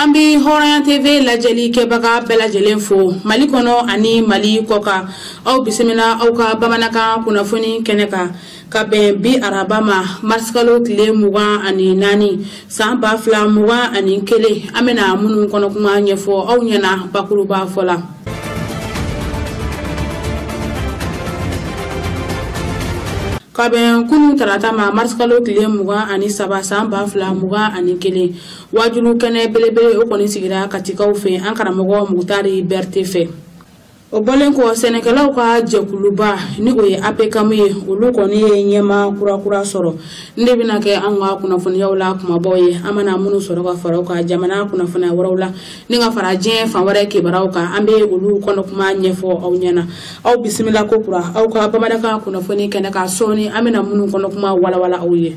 an bɛ hɔrɔnya tv lajɛli kɛbaga bɛɛ lajɛlen fo mali kɔnɔ ani mali kɔkan aw bisimila aw ka bamanankan kunnafoni kɛnɛ kan ka bɛn bi araba ma marisikalo tile mugan ani naani san ba fila mugan ani kelen an bɛna minnu kɔnɔkuma ɲɛfɔ aw ɲɛna bakuruba fɔ la ka bɛn kunu tarata ma marisikalo tile mugan ani saba san ba fila mugan ani kelen wajulu kɛnɛ belebele o kɔni sigira katikaw fɛ an karamɔgɔ mutari bɛrite fɛ o bɔlen kɔ sɛnɛkɛlaw ka jɛkuluba ni o ye apekamu ye olu kɔni ye ɲɛmaa kurakura sɔrɔ nin de bɛna kɛ an ka kunnafoniyaw la kumabaw ye an mana minnu sɔrɔ ka fara an ka jamana kunnafoni wɛrɛw la ni ka fara diɲɛ fan wɛrɛ kibaruyaw kan an bɛ olu kɔnɔkuma ɲɛfɔ aw ɲɛna aw bisimila ko kura aw ka bamanankan kunnafoni kɛnɛ kan sɔɔni an bɛna minnu kɔnɔkuma walawala aw ye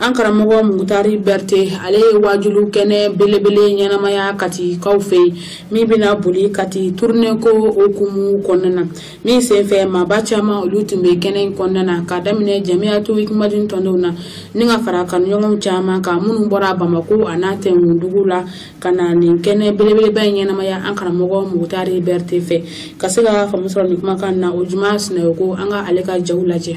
an karamɔgɔ mugutari bɛrite ale ye wajulu kɛnɛ belebele ɲɛnamaya katikaw fɛ yen min bɛna boli kati turunenko okumu kɔnɔna na min senfɛ maaba caman olu tun bɛ kɛnɛ in kɔnɔna na ka daminɛ jamiyatu ikimadin tɔndenw na ni ka fara kanuɲɔgɔnw caman kan minnu bɔra bamako a n'a tɛnkundugu la ka na nin kɛnɛ belebeleba in ɲɛnamaya an karamɔgɔ mugutari bɛrite fɛ ka se ka faamu sɔrɔ nin kumakan na ojuma sinayoko an ka ale ka jaw lajɛ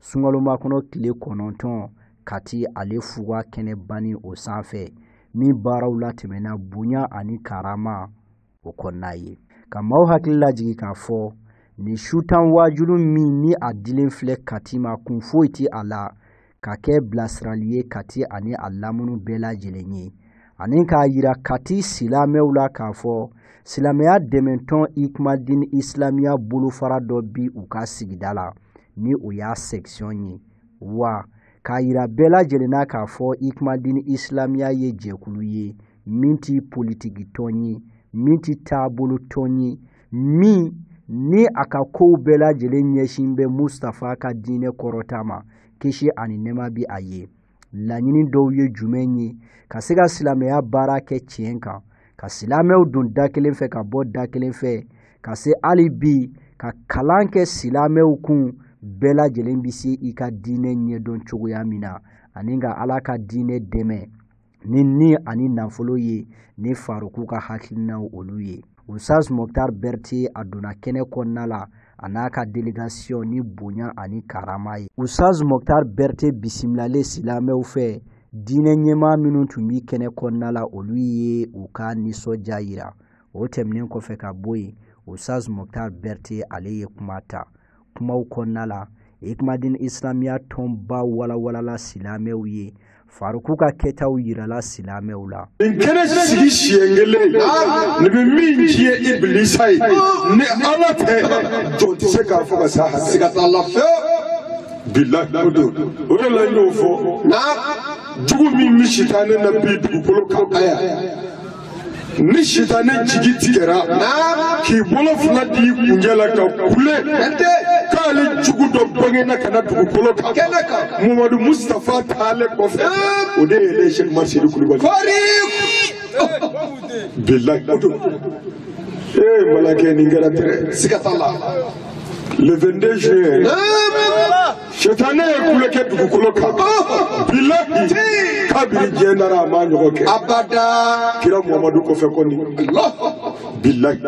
sunkalomakɔnɔ tile kɔnɔntɔn kati ale fuga kɛnɛba nin o sanfɛ min baaraw latɛmɛna bonya ani karama o kɔnɔna ye ka maaw hakili lajigi k'a fɔ nin su tan waajulu min ni a dilen filɛ kati ma kun foyi tɛ a la ka kɛ bilasirali ye kati ani a lamunu bɛɛ lajɛlen ye ani k'a yira kati silamɛw la k'a fɔ silamɛya dɛmɛtɔn ikumadini isilamiya bolofara dɔ bi u ka sigida la ni o y'a sɛkisiyɔn ye wa k'a yira bɛɛ lajɛlen na k'a fɔ ikumadini isilamiya ye jɛkulu ye min tɛ politikitɔn ye min tɛ taabolotɔn ye min ni a ka kow bɛɛ lajɛlen ɲɛsin bɛ mustafa ka diinɛ kɔrɔta ma kisi ani nɛɛma bi a ye laɲini dɔw ye jumɛn ye ka se ka silamɛya baara kɛ tiɲɛ kan ka silamɛw don da kelen fɛ ka bɔ da kelen fɛ ka se hali bi ka kalan kɛ silamɛw kun bɛɛ lajɛlen bɛ se i ka diinɛ ɲɛdɔn cogoya min na ani ka ala ka diinɛ dɛmɛ ni ni ani nafolo ye ni faroku ka hakilinaw olu ye usaz moktar berte a donna kɛnɛ kɔnɔna la a n'a ka delegasiyɔn ni bonya ani karama ye usaz moktar berte bisimilalen silamɛw fɛ diinɛ ɲɛmaa minnu tun bi kɛnɛ kɔnɔna la olu ye u ka nisɔndiya yira o tɛmɛnen kɔfɛ ka bɔ yen usaz moktar berte ale ye kuma ta kumaw kɔnɔna la ikumadin isilamiya tɔnba walawalala silamɛw ye faruku ka kɛtaw yirala silamɛw la nin kɛnɛ sigi siɲɛ kelen nin bɛ min tiɲɛ ibilisa ye ni ala tɛ jɔn tɛ se k'a fɔ ka sa siga t'a la fɛ bilahi o de o de la n y'o fɔ jugu min bɛ sitanɛ na bi dugukolo kan a yan ni sitanɛ jigi tigɛra k'i bolo fila d'i kuncɛ la ka kule k'ale jugu dɔ bangena ka na dugukolo kan muhamadu mustafa taale kɔfɛ o de ye sɛki umaru seyidu kulubali bilayi o don ee malakɛ nin kɛra tɛrɛ siga t'a la le 22 juin Sitanɛ ye kule kɛ dugukolo kan. Bilahi. Kabiri diɲɛ dara a ma ɲɔgɔn kɛ. Abada. Kira Muhamadu kɔfɛ kɔni. Bilahi.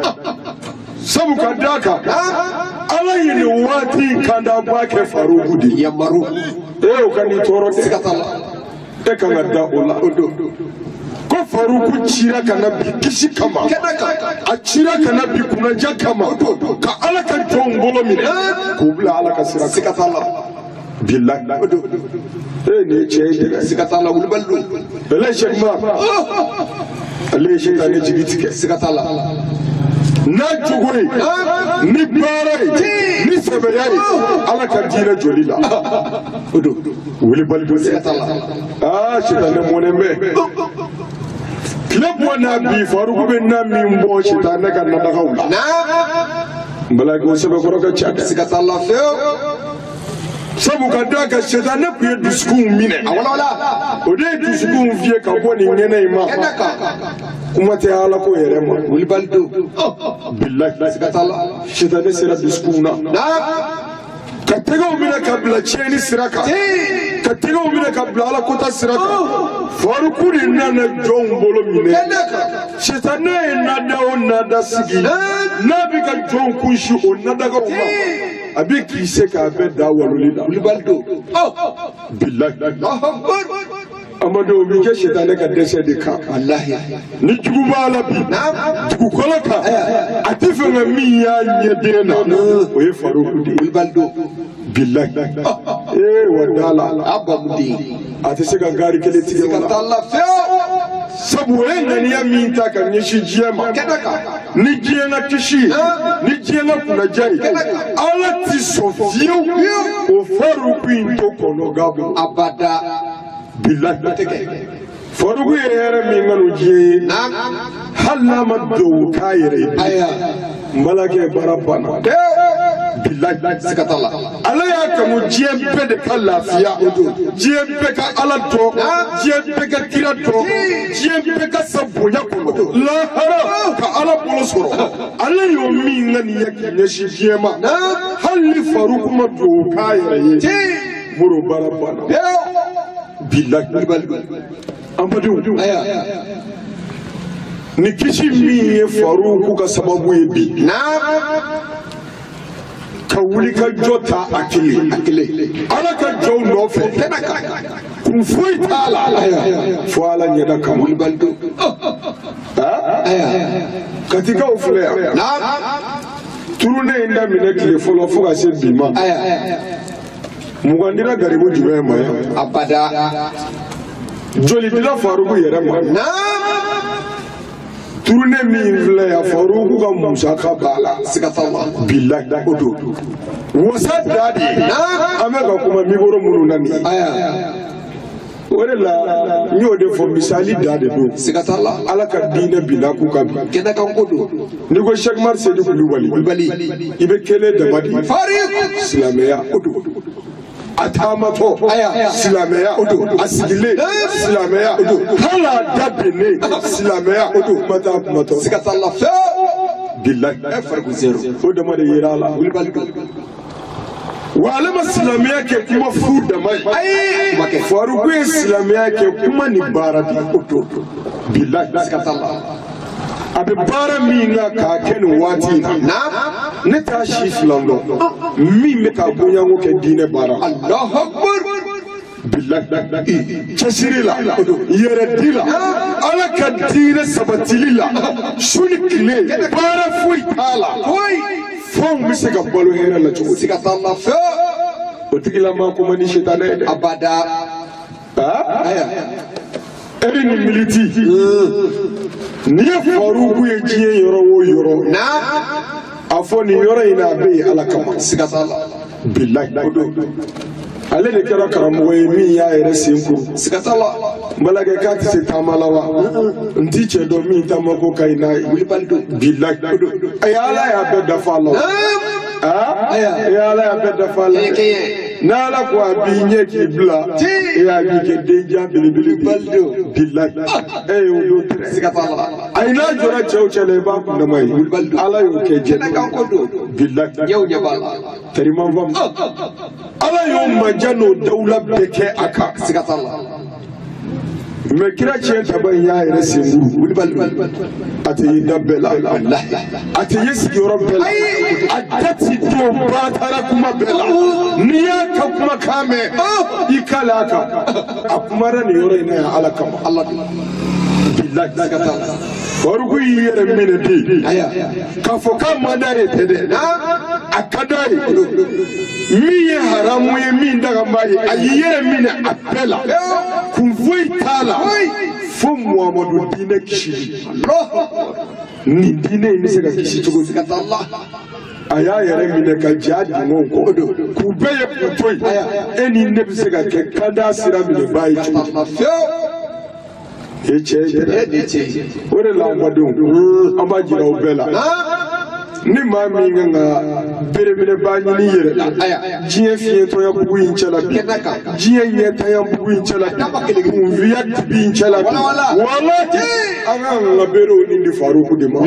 Sabu ka d'a kan. Ala ye nin waati in kandabaa kɛ Faruku de ye. Yamaru. Ee o kan'i tɔɔrɔ dɛ. Siga t'a la. e kan ka da o la o don ko faruku cira ka na bi kisi kama a cira ka na bi kunnaja kama ka ala ka jɔnw bolo minɛ k'u bila ala ka sira siga t'a la bilayi o don e nin ye tiɲɛ ye dɛ siga t'a la wulibali don bɛlɛ sɛki umaru ye sitanɛ jigi tigɛ siga t'a la n'a jogo ye ni baara ye ni sɛbɛya ye ala ka diinɛ jɔli la o don wulibali don siga t'a la aa sitanɛ mɔnen bɛ tile bɔ n'a bi faruku bɛ na min bɔ sitanɛ ka nadagaw la n bala ko sɛbɛkɔrɔ ka ca dɛ siga t'a la fewu sabu ka d'a kan sitanɛ tun ye dusukunw minɛ o de ye dusukunw fiyɛ ka bɔ nin kɛnɛ in ma kuma tɛ ala ko yɛrɛ ma wulibali don bilahi sitanɛ sera dusukunw na ka tɛgɛw minɛ ka bila tiɲɛni sira kan ka tɛgɛw minɛ ka bila ala kota sira kan faruku de nana jɔnw bolo minɛ sitanɛ ye nadaa o nadaa sigi n'a bɛ ka jɔnw kunsin o nadagaw ma a bɛ k'i se k'a bɛɛ da waloli la wulibali don bilahi Amadu o bɛ kɛ sitanɛ ka dɛsɛ de kan walahi ni jugu b'a la bi dugukolo kan a t'a fɛ ka min y'a ɲɛden na o ye faruku de ye wulibali don bilahi ee wa dala a babu de ye a tɛ se ka gaari kelen tigɛ ka taa lafiya sabu o ye ŋaniya min ta ka ɲɛsin diɲɛ ma kɛnɛ kan ni diɲɛ ka kisi ye ni diɲɛ ka kunnaja ye ala tɛ sɔn fewu o faruku in to kɔnɔgan bolo abada billahi bɛ tɛ kɛ faruku yɛrɛ ye min kanu diɲɛ ye hali n'a ma dugawu k'a yɛrɛ ye n balakɛ baara banna billahi siga t'a la ala y'a kanu diɲɛ bɛɛ de ka lafiya o don diɲɛ bɛɛ ka ala dɔn diɲɛ bɛɛ ka kira dɔn diɲɛ bɛɛ ka sa bonya kɔnɔ lahara ka ala bolo sɔrɔ ala y'o min ŋaniya k'i ɲɛsin diɲɛ ma hali ni faruku ma dugawu k'a yɛrɛ ye moro baara banna billahi an badenw aya ni kisi min ye faruku ka sababu ye bi na ka wuli ka jɔ ta a kelen a kelen ala ka jɔnw nɔfɛ kɛnɛ kan kun foyi t'a la fo ala ɲɛda kan wulibali don katikaw filɛ yan turune in daminɛ tile fɔlɔ fo ka se bi ma mugan dira garibu jumɛn ma abada joli dira faruku yɛrɛ ma turune min filɛ yan faruku ka musaka b'a la siga t'a la bilahi o don wasa da de an bɛ ka kuma mikoro minnu na nin ye o de la n y'o de fɔ misali da de don siga t'a la ala ka diinɛ binna k'u ka bi kɛnɛ kan ko don n'i ko sɛki umaru sedu kulubali kulubali i bɛ kelen dama de faruku silamɛya o don a taamatɔ silamɛya o don a sigilen silamɛya o don hali a da binnen silamɛya o don kuma t'a kumatɔ siga t'a la fɛn bilayi o dama de yera a la wulibali don wa ale ma silamɛya kɛ kuma fu dama ye ayi faruku ye silamɛya kɛ kuma ni baara de o don bilahi siga t'a la a bɛ baara min na k'a kɛ nin waati in na ne t'a si filan dɔn min bɛ ka o ɲɔgɔn kɛ diinɛ baara Alahu Akibaru cɛsiri la yɛrɛdi la ala ka diinɛ sabatili la su ni tile baara foyi t'a la fo an bɛ se ka balo hɛrɛ la cogo siga t'a la fɛ o tigilama ko man di sitanɛ ye dɛ abada aa e bɛ nin militi n'i ye faruku ye diɲɛ yɔrɔ o yɔrɔ a fɔ nin yɔrɔ in na a bɛ yen ala kama siga t'a la bilayi ko don ale de kɛra karamɔgɔ ye min y'a yɛrɛ sen kuru siga t'a la n balakɛ k'a tɛ se taama la wa n tɛ cɛ dɔn min taama ko ka ɲi n'a ye wulibali don bilayi ko don ayi ala y'a bɛɛ dafa a la o aa ayi ala y'a bɛɛ dafa a la. n'ala ko a b'i ɲɛ k'i bila e y'a b'i kɛ denjan belebele wulibali don bilayi e y'o don tɛrɛ siga t'a la a ye n'a jɔra cɛw cɛ la i b'a kun dama ye ala y'o kɛ jɛnɛ kan ko don bilayi aw ɲɛ b'a la tɛriman faamu ala y'o manja n'o dawula bɛɛ kɛ a kan siga t'a la mɛ kira ciyɛn tabaa in y'a yɛrɛ senkuru wulibali don a tɛ ye da bɛɛ la a tɛ ye sigiyɔrɔ bɛɛ la a da ti don batara kuma bɛɛ la n'i y'a ka kuma kan mɛn i k'a la a kan a kumara nin yɔrɔ in na yan ala kama ala de bilahi siga t'a la faruku y'i yɛrɛ minɛ bi k'a fɔ k'a man d'a ye tɛ dɛ a ka d'a ye min ye haramu ye min dagalen b'a ye a y'i yɛrɛ minɛ a bɛɛ la kun foyi t'a la fo muhamadu diinɛ kisili nin diinɛ in bɛ se ka kisi cogo di a y'a yɛrɛ minɛ ka ja dingɛw kɔ don k'u bɛɛ ye k'u to yen e ni ne bɛ se ka kɛ kanda sira minɛbaa ye cogo di e cɛ e de cɛ o de la n badenw an b'a jira aw bɛɛ la ni maa min ka kan ka belebeleba ɲini yɛrɛ la diɲɛ fiɲɛtɔya bugu in cɛla bi diɲɛ ɲɛtanya bugu in cɛla bi kunfinya dibi in cɛla bi walahi an ka kan ka bere o nin di faruku de ma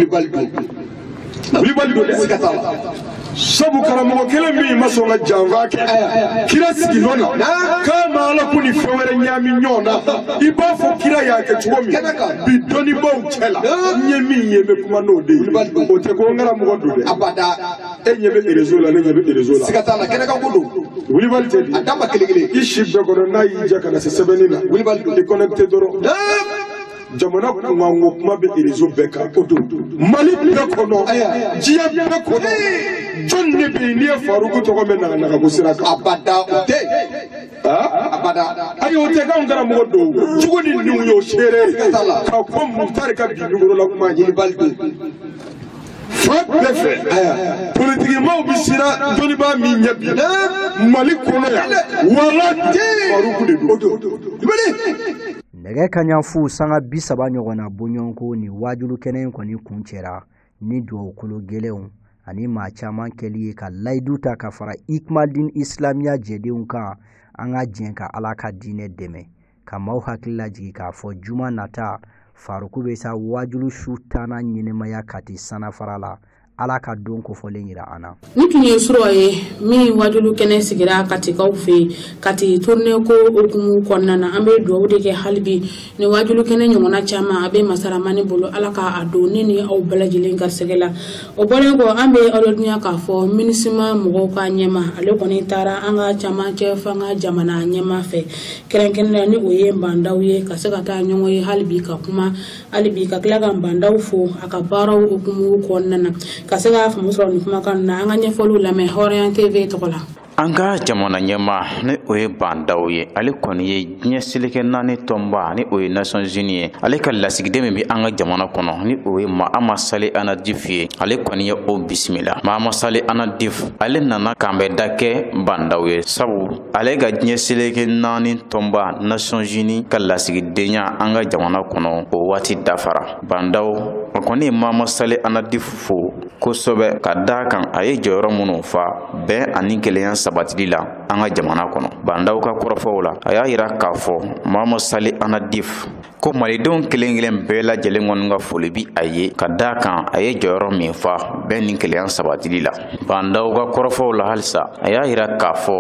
wulibali don dɛ siga t'a la sabu karamɔgɔ kelen min ma sɔn ka janfa kɛ kira sigi nɔ na k'a ma ala ko ni fɛn wɛrɛ ɲaami ɲɔgɔn na i b'a fɔ kira y'a kɛ cogo min bi dɔnnibaw cɛ la n ye min ye n bɛ kuma n'o de ye o tɛ ko n karamɔgɔ don dɛ abada e ɲɛ bɛ erezo la ne ɲɛ bɛ erezo la siga t'a la kɛnɛ kan ko don wulibali tɛ di a dan ma kelen kelen i si bɛɛ kɔnɔ n'a y'i ja ka na se sɛbɛnni na wulibali don i kɔnɛkite dɔrɔn jamana kunkanko kuma bɛ rezo bɛɛ kan o don mali bɛɛ kɔnɔ diɲɛ bɛɛ kɔnɔ jɔn de bɛ yen n'i ye faruku tɔgɔ mɛn naganagako sira kan abada o tɛ abada ayi o tɛ k'anw karamɔgɔ don jugu ni ɲin y'o seere ka bɔ mutari ka bi nugurula kuma ɲinibali don fan bɛɛ fɛ politikimaw bɛ siran dɔnnibaa min ɲɛ bi mali kɔnɔ yan wala faruku de don nɛgɛ kaɲa fu sanga bi saba ɲɔgɔn na bɔɲɔgɔnko nin waajuli kɛnɛ in kɔni kun cɛra ni dugawu kologɛlɛnw ani maa caman kɛli ye ka layidu ta ka fara ikmadin isilamiya jɛdenw kan an ka jɛn ka ala ka diinɛ dɛmɛ ka maaw hakili lajigi k'a fɔ juma nata faruku bɛ san waajuli su tannan ɲɛnamaya kati sananfara la ala ka don kofɔlen jira an na ni tun ye sura ye min wajulu kɛnɛ sigira katikaw fɛ yen kati turune ko hukumu kɔnɔna na an bɛ dugawu de kɛ hali bi ni wajulu kɛnɛ ɲɔgɔnna caman a bɛ masaramani bolo ala ka a don ne ni aw bɛɛ lajɛlen garisɛgɛ la o bɔlen kɔ an bɛ aw ladɔnniya k'a fɔ minisima mɔgɔw ka ɲɛmaa ale kɔni taara an ka camancɛ fanga jamana ɲɛmaa fɛ kɛrɛnkɛrɛnnenya ni o ye bandaw ye ka se ka taa ɲɔgɔn ye hali bi ka kuma hali bi ka tila ka bandaw fo a ka baaraw hukumu kɔnɔna na ka se k'a faamu sɔrɔ nin kumakan na an ka ɲɛfɔliw lamɛn hɔrɔnya tv tɔgɔ la an ka jamana ɲɛmaa ni o ye bandaw ye ale kɔni ye diɲɛ seleke naani tɔnba ni o ye nations unies ye ale ka lasigiden min bɛ an ka jamana kɔnɔ ni o ye maama sale anadif ye ale kɔni ye o bisimila maama sale anadif ale nana k'an bɛn da kɛ bandaw ye sabu ale ka diɲɛ seleke naani tɔnba nations unies ka lasigidenya an ka jamana kɔnɔ o waati dafara bandaw a kɔni ye maama sale anadif fo kosɛbɛ ka da kan a ye jɔyɔrɔ minnu fa bɛn ani kelenya sabatili la an ka jamana kɔnɔ bandaw ka kɔrɔfɔw la a y'a yira k'a fɔ maama sale anadif ko malidenw kelen kelen bɛɛ lajɛlen kɔni ka foli bi a ye ka da kan a ye jɔyɔrɔ min fa bɛn ni kelenya sabatili la bandaw ka kɔrɔfɔw la halisa a y'a yira k'a fɔ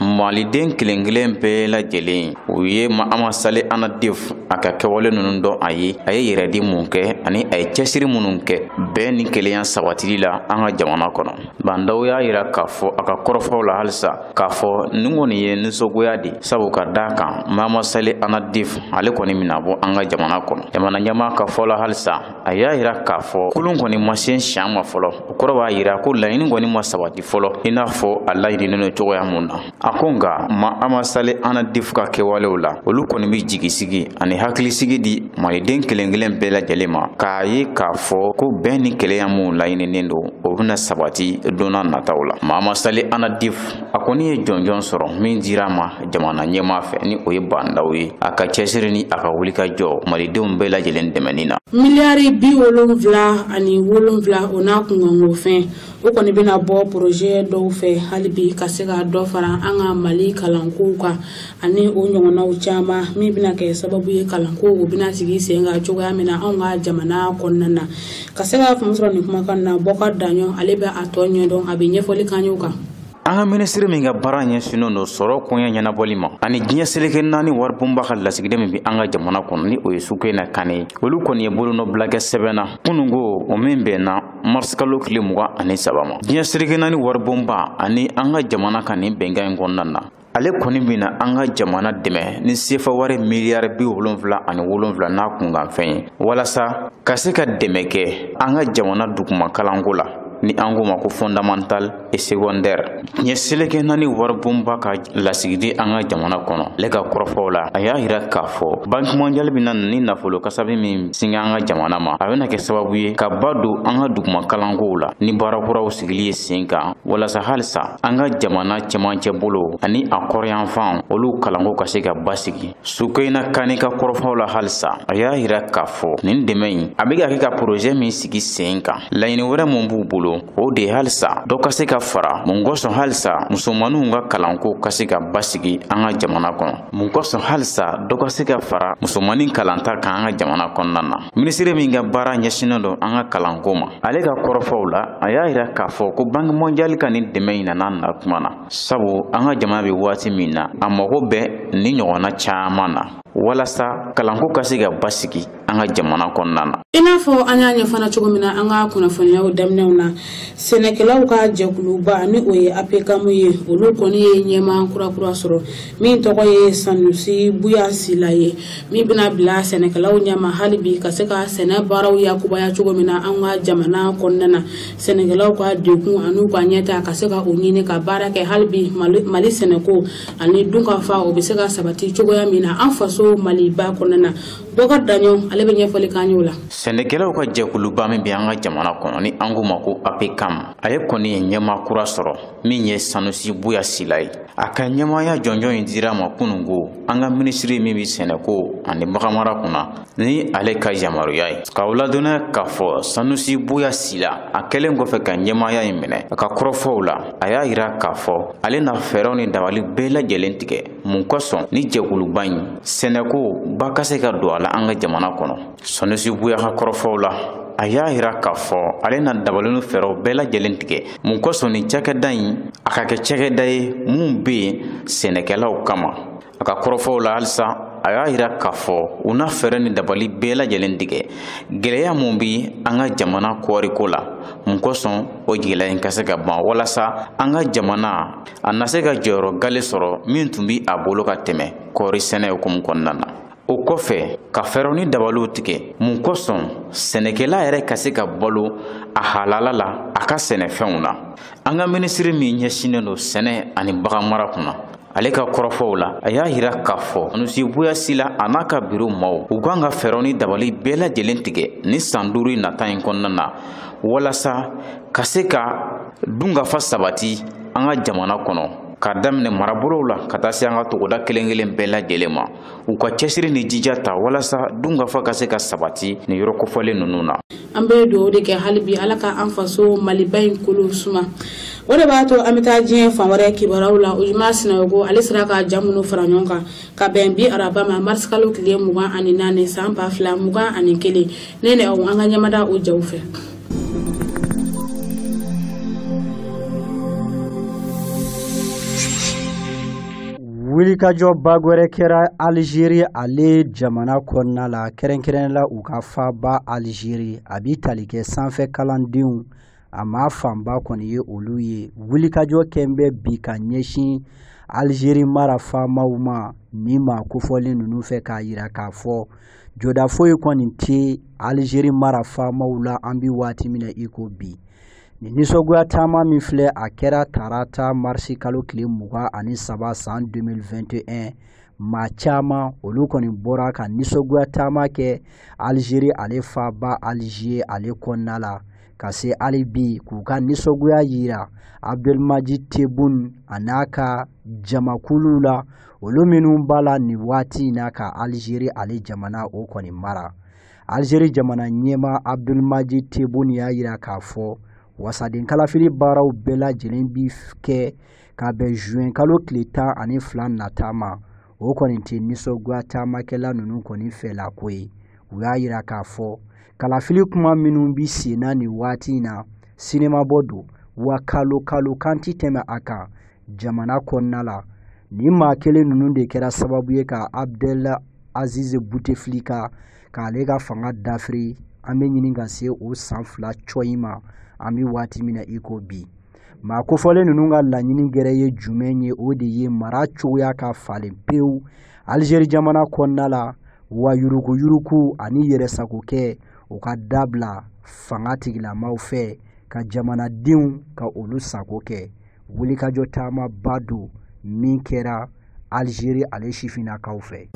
maliden kelen kelen bɛɛ lajɛlen u ye maama sale anadif a ka kɛwale ninnu dɔn a ye a ye yɛrɛdi mun kɛ ani a ye cɛsiri minnu kɛ bɛn ni kelenya sabatili la an ka jamana kɔnɔ bandaw y'a yira k'a fɔ a ka kɔrɔfɔw la halisa k'a fɔ nin kɔni ye nisɔngoya de sabu ka da kan maama sale anadif ale kɔni mina bɔ an ka jamana kɔnɔ jamana ɲɛmaa ka fɔ la halisa a y'a yira k'a fɔ kulun kɔni ma se siɲan ma fɔlɔ o kɔrɔ b'a yira ko laɲini kɔni ma sabati fɔlɔ i n'a fɔ a laɲininen don cogoya mun na a ko nka maama sale anadif ka kɛwalew la olu kɔni bɛ jigisigi ani hakilisigi di maliden kelen kelen bɛɛ lajɛlen ma k'a ye k'a fɔ ko bɛn ni kelenya minw laɲininen don o bɛna sabati donna nataw la maama sale anadif a kɔni ye jɔnjɔn sɔrɔ min dira ma jamana ɲɛmaa fɛ ni o ye bandaw ye a ka cɛsiri ni a ka wuli ka jɔ malidenw bɛɛ lajɛlen dɛmɛni na miliyari bi wolonwula ani wolonwula o n'a kunkanko fɛn o kɔni bɛna bɔ porozɛ dɔw fɛ hali bi ka se ka dɔ fara an ka mali kalankow kan ani o ɲɔgɔnnaw caman min bɛna kɛ sababu ye kalanko o bɛna sigi sen kan cogoya min na anw ka jamana kɔnɔna na ka se ka faamu sɔrɔ nin kumakan na bɔkar daɲɔn ale bɛ a tɔ ɲɛdɔn a bɛ ɲɛfɔli k'an y'o kan an ka minisiri min ka baara ɲɛsinnen don sɔrɔ koɲɛ ɲɛnabɔli ma ani diɲɛ seleke naani waribonba ka lasigiden min bɛ an ka jamana kɔnɔ ni o ye sukena kane ye olu kɔni ye bolonɔbila kɛ sɛbɛn na kunun ko o min bɛnna marisikalo tile mugan ani saba ma diɲɛ seleke naani waribonba ani an ka jamana ka nin bɛnkan in kɔnɔna na ale kɔni bɛna an ka jamana dɛmɛ ni sefa wari miliyari bi wolonfila ani wolonfila n'a kunkanfɛn ye walasa ka se ka dɛmɛ kɛ an ka jamana duguma kalanko la ni an k'o ma ko fondamental et secondaire diɲɛ seleke naani waribonba ka lasigidi an ka jamana kɔnɔ ale ka kɔrɔfɔw la a y'a yira k'a fɔ banki mondial bɛna ni nafolo kasabi min singa an ka jamana ma a bɛna kɛ sababu ye ka ba don an ka duguma kalankow la ni baara kuraw sigili ye sen kan walasa halisa an ka jamana cɛmancɛ bolo ani a kɔrɔyanfan olu kalanko ka se ka basigi sukeyina kani ka kɔrɔfɔw la halisa a y'a yira k'a fɔ nin dɛmɛ in a bɛ ka kɛ ka porozɛ min sigi sen kan laɲini wɛrɛ min b'u bolo o de ye halisa dɔ ka se ka fara mun kosɔn halisa musomaninw ka kalanko ka se ka basigi an ka jamana kɔnɔ mun kosɔn halisa dɔ ka se ka fara musomanin kalanta kan an ka jamana kɔnɔna na minisiri min ka baara ɲɛsinnen don an ka kalanko ma ale ka kɔrɔfɔw la a y'a yira k'a fɔ ko banki mɔndiyali ka nin dɛmɛ in nana na tuma na sabu an ka jamana bɛ waati min na a mago bɛ ni ɲɔgɔnna caman na walasa kalanko ka se ka basigi an ka jamana kɔnɔna na i n'a fɔ an y'a ɲɛfana cogo min na an ka kunnafoniyaw daminɛw na sɛnɛkɛlaw ka jɛkuluba ni o ye apekamu ye olu kɔni ye ɲɛmaa kurakura sɔrɔ min tɔgɔ ye sanusi buya sila ye min bɛna bila sɛnɛkɛlaw ɲɛma hali bi ka se ka sɛnɛ baaraw yakubaya cogo min na an ka jamana kɔnɔna na sɛnɛkɛlaw ka dekun an'u ka ɲɛtaa ka se ka o ɲini ka baara kɛ hali bi mali sɛnɛko ani dunkafa o bɛ se ka sabati cogoya min na an faso maliba kɔnɔna na bɔkar daɲɔ ale bɛ ɲɛfɔli k'an y'o la sɛnɛkɛlaw ka jɛkuluba min bɛ an ka jamana kɔnɔ ni an k'o ma ko apekam ale kɔni ye ɲɛmaa kura sɔrɔ min ye sanusi buya sila ye a ka ɲɛmaaya jɔnjɔn in dira a ma kununko an ka minisiri min bɛ sɛnɛko ani baganmara kunna ni ale ka yamaruya ye k'aw ladɔnniya k'a fɔ sanusi buya sila a kɛlen kɔfɛ ka ɲɛmaaya in minɛ a ka kɔrɔfɔw la a y'a yira k'a fɔ ale na fɛɛrɛw ni dabali bɛɛ lajɛlen tigɛ mun kosɔn ni jɛkuluba in sɛnɛko ba ka se ka don a la an ka jamana kɔnɔ sanusi buya ka kɔrɔfɔw la a y'a yira k'a fɔ ale na dabali ni fɛɛrɛw bɛɛ lajɛlen tigɛ mun kosɔn ni cakɛda in a ka kɛ cakɛda ye min be yen sɛnɛkɛlaw kama a ka kɔrɔfɔw la halisa a y'a yira k'a fɔ u na fɛɛrɛ ni dabali bɛɛ lajɛlen tigɛ gwɛlɛya min be an ka jamana kɔɔriko la mun kosɔn o gɛlɛya in ka se ka ban walasa an ka jamana a na se ka jɔyɔrɔ gale sɔrɔ min tun be a bolo ka tɛmɛ kɔɔri sɛnɛ hukumu kɔnɔna na o kɔfɛ ka fɛɛrɛw ni dabaliw tigɛ mun kosɔn sɛnɛkɛla yɛrɛ ka se ka balo a halala la a ka sɛnɛfɛnw na an ka minisiri min ɲɛsinnen don sɛnɛ ani baganmara kunna ale ka kɔrɔfɔw la a y'a yira k'a fɔ sanusi buya sila a n'a ka biro maw u kan ka fɛɛrɛw ni dabali bɛɛ lajɛlen tigɛ ni san duuru in nata in kɔnɔna na walasa ka se ka dunkafa sabati an ka jamana kɔnɔ k'a daminɛ marabolow la ka taa se an ka togoda kelen kelen bɛɛ lajɛlen ma u ka cɛsiri ni jija ta walasa dunkafa ka se ka sabati nin yɔrɔ kofɔlen ninnu na an bɛ dugawu de kɛ hali bi ala ka an faso maliba in kolo suma o de b'a to an bɛ taa diɲɛ fan wɛrɛ kibaruyaw la ujuma sinayoko ale sera ka ja minnu fara ɲɔgɔn kan ka bɛn bi araba ma marisikalo tile mugan ani naani san ba fila mugan ani kelen ne ni aw an ka ɲɛmada o jaw fɛ wulikajɔba gwɛrɛ kɛra alizeri ale jamana kɔnɔna la kɛrɛnkɛrɛn la u ka faaba alizeri a bi tali kɛ sanfɛ kalandenw a maa fanba kɔni ye olu ye wulikajɔ kɛn bɛ bi ka ɲɛsin alizeri mara faamaw ma nin maa kofɔlen ninnu fɛ k'a yira k'a fɔ jɔda foyi kɔni tɛ alizeri mara faamaw la an bɛ waati min na i ko bi nin nisɔngoya taama min filɛ a kɛra tarata marisi kalo tile mugan ani saba san 2021 maa caman olu kɔni bɔra ka nisɔngoya taama kɛ alizeri ale faaba alize ale kɔnɔna la ka se hali bi k'u ka nisɔngoya yira abdulmaji tebun a n'a ka jamakulu la olu minnu b'a la nin waati in na ka alizeri ale jamana o kɔni mara alizeri jamana ɲɛmaa abdulmaji tebun y'a yira k'a fɔ wasaden kalafili baaraw bɛɛ lajɛlen bi kɛ ka bɛn zuwɛn kalo tile tan ani fila nata ma o kɔni tɛ nisɔngoya taamakɛla ninnu kɔni fɛla ko ye u y'a yira k'a fɔ kalafili kuma minnu bi senna nin waati in na sinemabɔ don wa kalo kalo kan ti tɛmɛ a kan jamana kɔnɔna la nin maa kelen ninnu de kɛra sababu ye ka abdel azize buteflika k'ale ka fanga dafiri an bɛ ɲini ka se o san fila cɔyi ma an bɛ waati min na i ko bi maa kofɔlen ninnu ka laɲini gɛrɛ ye jumɛn ye o de ye mara cogoya ka falen pewu alizeri jamana kɔnɔna la wa yurukuyuruku ani yɛrɛsagokɛ o ka dabila fanga tigilamaw fɛ ka jamanadenw ka olu sago kɛ wulikajɔ taamaba don min kɛra alizeri ale sifinnakaw fɛ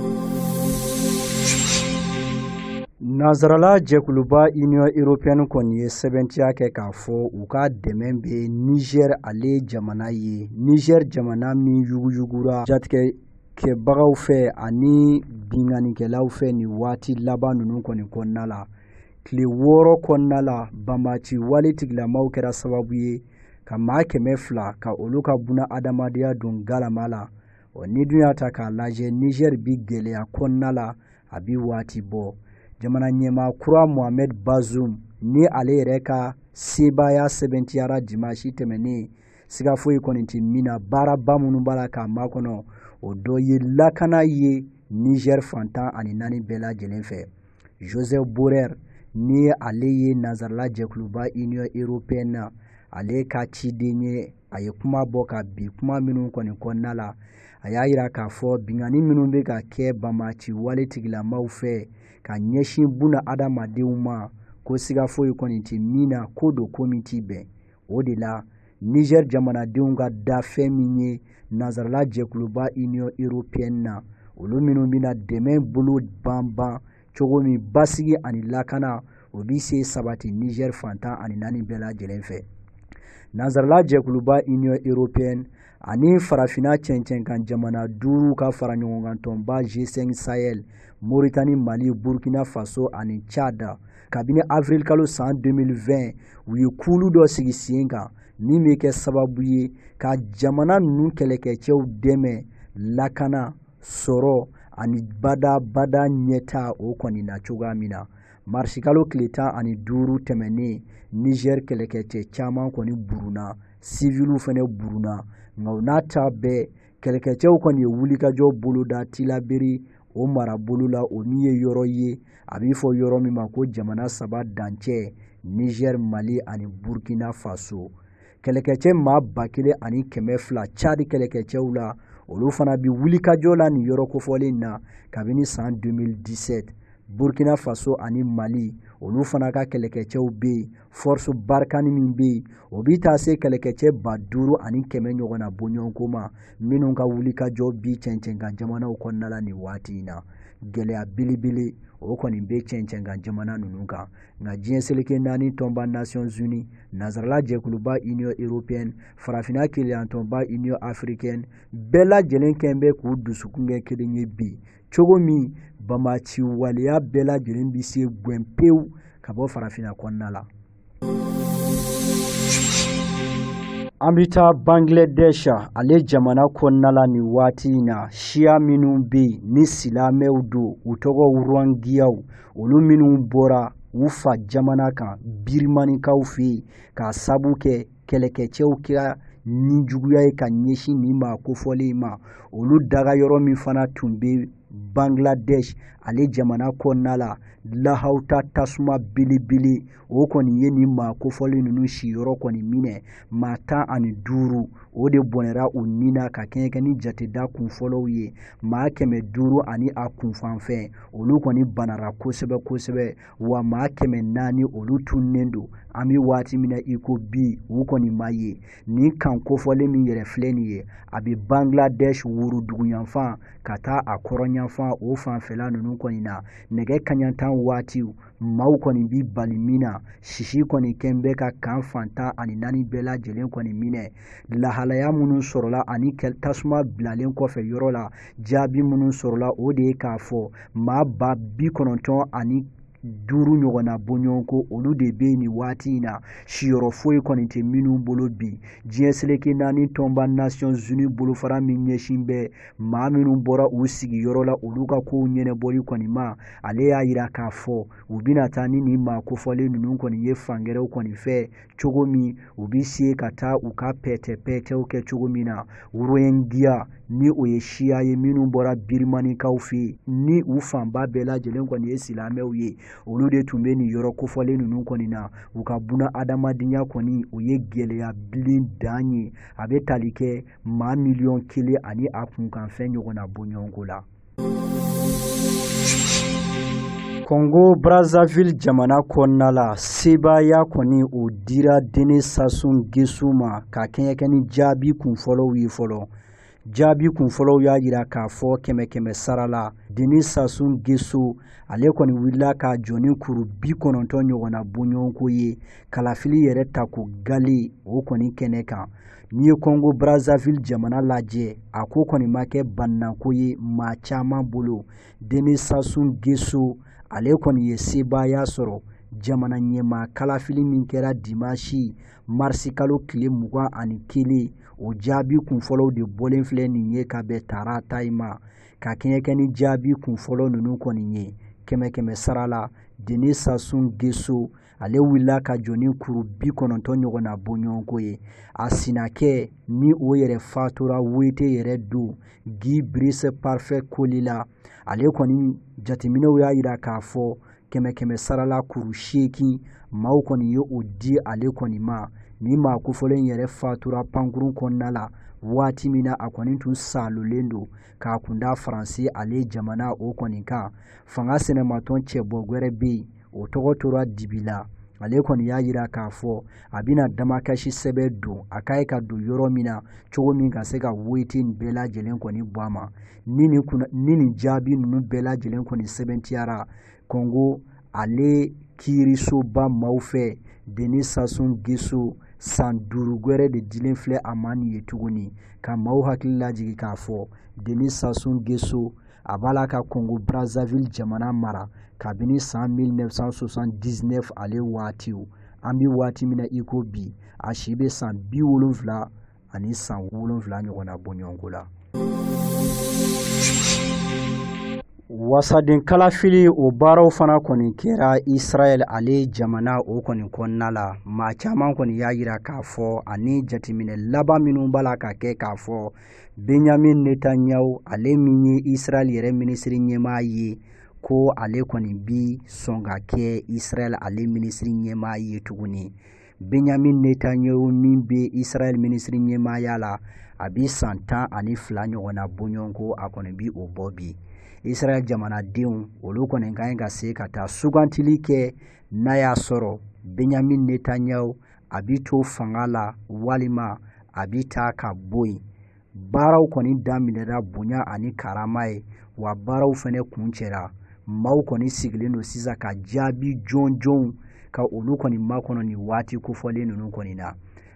Nansarala jɛkuluba Union Européenne kɔni ye sɛbɛntiya kɛ k'a fɔ u ka dɛmɛ bɛ Niger ale jamana ye Niger jamana min yuguyugura jatigɛkɛbagaw fɛ ani binkannikɛlaw fɛ nin waati laban ninnu kɔni kɔnɔna la tile wɔɔrɔ kɔnɔna la banbaaci wale tigilamaw kɛra sababu ye ka maa kɛmɛ fila ka olu ka buna adamadenya don galama la ɔ n'i dun y'a ta k'a lajɛ nizɛri bi gɛlɛya kɔnɔna la a bi waati bɔ jamana ɲɛmaa kura mohamed bazoum ni ale yɛrɛ ka sebaaya sɛbɛntiyara dimasi tɛmɛnen siga foyi kɔni tɛ min na baaraba minnu b'a la k'a makɔnɔ o dɔ ye lakana ye nizɛri fan tan ani naani bɛɛ lajɛlen fɛ josep borrell ni ale ye nansarala jɛkuluba union européenne na ale ka ciden ye a ye kuma bɔ ka bi kuma minnu kɔni kɔnɔna la a y'a yira k'a fɔ binkanni minnu bɛ ka kɛ banbaaci wale tigilamaw fɛ ka ɲɛsin buna adamadenw ma ko siga foyi kɔni tɛ min na ko don ko min ti bɛn o de la niger jamanadenw ka da fɛn min ye nansarala jɛkuluba union européenne na olu minnu bɛna dɛmɛ bolo banban cogo min basigi ani lakana o bi se sabati niger fan tan ani naani bɛɛ lajɛlen fɛ nansarala jɛkuluba union européenne ani farafina cɛncɛnkan jamana duuru ka faraɲɔgɔnkan tɔnba g5 sahel moritani mali burkina faso ani cadi kabini avril kalo san 2020 u ye kulu dɔ sigi sen kan min bɛ kɛ sababu ye ka jamana ninnu kɛlɛkɛcɛw dɛmɛ lakana sɔrɔ ani badabada ɲɛtaa o kɔni na cogoya min na marisikalo tile tan ani duuru tɛmɛnnen niger kɛlɛkɛcɛ caman kɔni burunna siviliw fɛnɛ burunna nka o n'a ta bɛɛ kɛlɛkɛcɛw kɔni ye wulikajɔ boloda tilaberi o marabolo la o min ye yɔrɔ ye a bi fɔ yɔrɔ min ma ko jamana saba dancɛ nizɛri mali ani burkina faso kɛlɛkɛcɛ maa ba kelen ani kɛmɛ fila cadi kɛlɛkɛcɛw la olu fana bi wulikajɔ la nin yɔrɔ kofɔlen na kabini san 2017 burkina faso ani mali olu fana ka kɛlɛkɛcɛw bɛ yen force barkhane min bɛ yen o bi taa se kɛlɛkɛcɛ ba duuru ani kɛmɛ ɲɔgɔn na bɔɲɔgɔnko ma minnu ka wulikajɔ bi cɛncɛnkan jamanaw kɔnɔna la nin waati in na gɛlɛya belebele o kɔni bɛ cɛncɛnkan jamana ninnu kan nka diɲɛ seleke naani tɔnba nations unies nansarala jɛkuluba union européenne farafinna kelenyatɔnba union africaine bɛɛ lajɛlen kɔni bɛ k'u dusukun kɛ kelen ye bi cogo min banbaanci waleya bɛɛ lajɛlen bɛ se gwɛn pewu ka bɔ farafinna kɔnɔna la an bɛ taa bangladesh ale jamana kɔnɔna la nin waati in na siya minnu bɛ yen ni silamɛw don u tɔgɔ rohingyaw olu minnu bɔra u fa jamana kan birimanikaw fɛ yen k'a sabu kɛ kɛlɛkɛcɛw kɛra nijuguya ye ka ɲɛsin nin maa kofɔlen ma olu dagayɔrɔ min fana tun bɛ bangladesh ale jamana kɔnɔna la lahawuta tasuma belebele o kɔni ye nin maa kofɔlen ninnu siyɔrɔ kɔni minɛ maa tan ani duuru o de bɔnɛra u ni na ka kɛɲɛ kɛ ni jateda kunfɔlɔw ye maa kɛmɛ duuru ani a kunkanfɛn olu kɔni banara kosɛbɛ kosɛbɛ wa maa kɛmɛ naani olu tunnen don an bɛ waati min na i ko bi u kɔni ma ye nin kan kofɔlen min yɛrɛ filɛ nin ye a bɛ bangladesh woroduguyanfan ka taa a kɔrɔnyanfan o fanfɛla ninnu kɔni na nɛgɛ kanɲɛ tan waatiw maaw kɔni bi bali min na sisi kɔni kɛn bɛ ka kan fan tan ani naani bɛɛ lajɛlen kɔni minɛ lahalaya minnu sɔrɔla ani tasuma bilalen kɔfɛ yɔrɔ la jaabi minnu sɔrɔla o de ye k'a fɔ maa ba bi kɔnɔntɔn ani duuru ɲɔgɔnna bɔɲɔgɔnko olu de bɛ nin waati in na siyɔrɔ foyi kɔni tɛ minnu bolo bi diɲɛ seleke naani tɔnba nations unies bolofara min ɲɛsin bɛ maa minnu bɔra u sigiyɔrɔ la olu ka kow ɲɛnabɔli kɔni ma ale y'a jira k'a fɔ u bɛna taa ni nin maa kofɔlen ninnu kɔni ye fan gɛrɛw kɔni fɛ cogo min u bi se ka taa u ka pɛtɛpɛtɛw kɛ cogo min na rohingya ni o ye siya ye minnu bɔra birimanikaw fɛ ni u fanba bɛɛ lajɛlen kɔni ye silamɛw ye olu de tun bɛ nin yɔrɔ kofɔlen ninnu kɔni na u ka bunaadamadenya kɔni o ye gɛlɛya bilen dan ye a bɛ tali kɛ maa miliyɔn kelen ani a kunkanfɛn ɲɔgɔnna bɔɲɔgɔnko la Kɔngo Brazzaville jamana kɔnɔna la, sebaaya kɔni o dira Denis Sassou Nguesso ma ka kɛɲɛ kɛ ni jaabi kunfɔlɔw ye fɔlɔ. Jaabi kunfɔlɔw y'a jira k'a fɔ kɛmɛ kɛmɛ sara la, Denis Sassou Nguesso ale kɔni wulila k'a jɔ ni kuru bi kɔnɔntɔn ɲɔgɔnna bɔɲɔgɔnko ye kalafili yɛrɛ tako gale o kɔni kɛnɛ kan. n'i ye kɔngo brazzaville jamana lajɛ a ko kɔni ma kɛ balannako ye maa caman bolo denis sassou nguesso ale kɔni ye sebaaya sɔrɔ jamana ɲɛmaa kalafili min kɛra dimansi marisikalo tile mugan ani kelen o jaabi kunfɔlɔw de bɔlen filɛ nin ye ka bɛn tarata in ma ka kɛɲɛ kɛ ni jaabi kunfɔlɔ ninnu kɔni ye kɛmɛ kɛmɛ sara la denis sassou nguesso ale wulila ka jɔ ni kuru bi kɔnɔntɔn ɲɔgɔn na bɔɲɔgɔnko ye a sinakɛ ni o yɛrɛ fatura wete yɛrɛ don guy brice parfait kolélas ale kɔni jateminɛw y'a yira k'a fɔ kɛmɛ kɛmɛ sarala kuru seegin maaw kɔni ye o di ale kɔni ma ni maa kofɔlen yɛrɛ fatura pankurun kɔnɔna la waati min na a kɔni tun salolen don k'a kunda faransi ale jamana o kɔni kan fanga sɛnɛmatɔn cɛbɔ gwɛrɛ bɛ yen o tɔgɔ tora dibi la ale kɔni y'a yira k'a fɔ a bɛna damakasi sɛbɛn don a ka ɲi ka don yɔrɔ min na cogo min ka se ka wete in bɛɛ lajɛlen kɔni bɔ a ma ni nin jaabi ninnu bɛɛ lajɛlen kɔni sɛbɛntiyara kongo ale kiirisoba maaw fɛ denis sassou nguesso san duuru gwɛrɛ de dilen filɛ a ma nin ye tuguni ka maaw hakili lajigi k'a fɔ denis sassou nguesso a b'a la ka kongo brazzaville jamana mara kabini san 1979 ale waatiw an bɛ waati min na i ko bi a si bɛ san bi wolonfila ani san wolonfila ɲɔgɔn na bɔɲɔgɔnko la wasaden kalafili o baaraw fana kɔni kɛra israɛl ale jamana o kɔni kɔnɔna la maa caman kɔni y'a yira k'a fɔ ani jateminɛ laban minnu b'a la ka kɛ k'a fɔ benyamin netanyahu ale min ye israɛl yɛrɛ minisiri ɲɛmaa ye ko ale kɔni bi sɔn ka kɛ israɛl ale minisiri ɲɛmaa ye tuguni benyamin netanyahu min bɛ israɛl minisiri ɲɛmaaya la a bi san tan ani fila ɲɔgɔn na bɔɲɔgɔnko a kɔni bi o bɔ bi israɛl jamanadenw olu kɔni ka ɲi ka se ka taa sugantili kɛ n'a y'a sɔrɔ benyamin netanyahu a bi to fanga la walima a bi taa ka bɔ yen baaraw kɔni daminɛra bonya ani karama ye wa baaraw fɛnɛ kuncɛra maaw kɔni sigilen don sisan ka jaabi jɔnjɔnw ka olu kɔni makɔnɔ nin waati kofɔlen ninnu kɔni na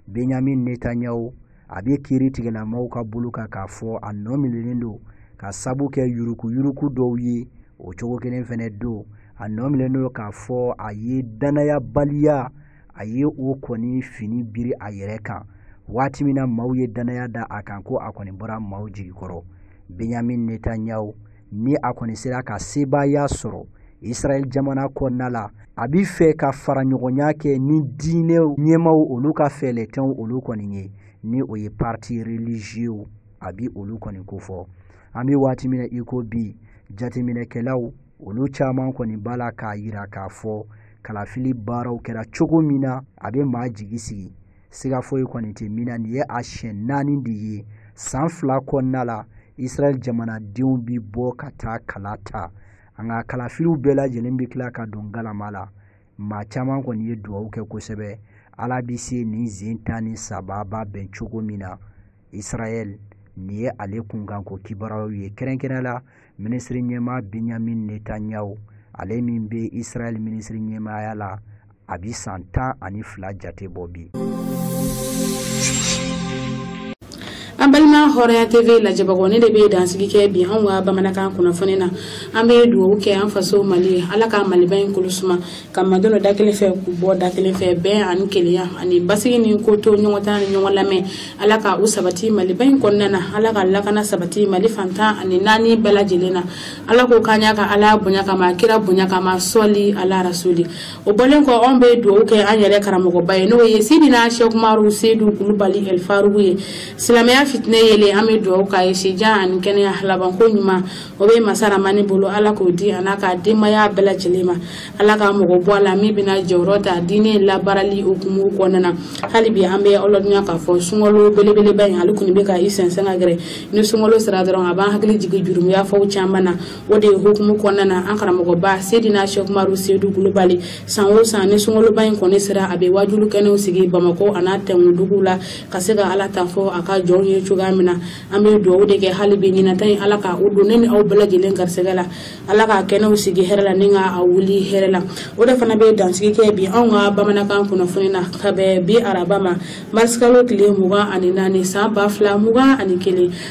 benyamin netanyahu a bɛ kiiritigɛla maaw ka bolo kan k'a fɔ a nɔ minɛlen don ka sabu kɛ yurukuyuruku dɔw ye o cogo kelen fɛnɛ don a nɔ minɛlen don k'a fɔ a ye dannayabaliya a ye o kɔni fini biri a yɛrɛ kan waati min na maaw ye dannaya da a kan ko a kɔni bɔra maaw jigi kɔrɔ benyamin netanyahu ni a kɔni sera ka sebaaya sɔrɔ israɛl jamana kɔnɔna la a bi fɛ ka faraɲɔgɔnya kɛ ni diinɛ ɲɛmaaw olu ka fɛɛrɛtɔnw olu kɔni ye ni o ye parti religieux a bi olu kɔni kofɔ an bɛ waati min na i ko bi jateminɛkɛlaw olu caman kɔni b'a la k'a yira k'a fɔ kalafili baaraw kɛra cogo min na a bɛ maa jigi sigi siga foyi kɔni tɛ min na nin ye a siɲɛ naani de ye san fila kɔnɔna la israɛl jamanadenw bi bɔ ka taa kala ta nka kalafiliw bɛɛ lajɛlen bɛ tila ka don galama la maa caman kɔni ye dugawu kɛ kosɛbɛ ala bɛ se nin zen tan ni saba b'a bɛn cogo min na israɛl nin ye ale kunkanko kibaruyaw ye kɛrɛnkɛrɛnya la minisiri ɲɛmaa benyamin netanyahu ale min bɛ israɛl minisiri ɲɛmaaya la a bi san tan ani fila jate bɔ bi an balima hɔrɔnya tv lajɛbagaw nin de bɛ dansigi kɛ bi anw ka bamanankan kunnafoni na an bɛ dugawu kɛ an faso mali ye ala ka maliba in kolo suma ka maa don da kelen fɛ k'u bɔ da kelen fɛ bɛn ani kelenya ani basigi ni ko to ɲɔgɔn ta ni ɲɔgɔn lamɛn ala ka u sabati maliba in kɔnɔna na ala ka lakana sabati mali fan tan ani naani bɛɛ lajɛlen na ala k'o k'an y'a ka ala bonya kama kira bonya kama sɔli ala rasuli o bɔlen kɔ anw bɛ dugawu kɛ an yɛrɛ karamɔgɔba ye n'o ye sidina sɛkumaru sedu kulubali ɛlifarugu ye silamɛya fitinɛ yeelen an bɛ dugawu k'a ye sijan ani kɛnɛya labanko ɲuman o bɛ masa ramani bolo ala k'o di a n'a ka denbaya bɛɛ lajɛlen ma ala ka mɔgɔ bɔ a la min bɛna jɔyɔrɔ ta diinɛ labaarali hukumu kɔnɔna na hali bi an bɛ aw ladɔnniya k'a fɔ sunkalo belebeleba in ale kɔni bɛ ka i sɛnsɛn ka gɛrɛ ni sunkalo sera dɔrɔn a b'an hakili jigin jurumu yafa caman na o de hukumu kɔnɔna na an karamɔgɔba sedina sɛkumaru sedu kulubali san o san ni sunkaloba in kɔni sera a bɛ wajulu kɛnɛw sigi bamakɔ an'a tɛnkuduguw la ka se ka ala ta fɔ a ka jɔnw ye cogoya min na an bɛ dugawu de kɛ hali bi ɲinata in ala ka o don ne ni aw bɛɛ lajɛlen garisɛgɛ la ala ka kɛnɛw sigi hɛrɛ la ni ka a wuli hɛrɛ la o de fana bɛ dansigi kɛ bi anw ka bamanankan kunnafoni na ka bɛn bi araba ma marisikalo tile mugan ani naani san ba fila mugan ani kelen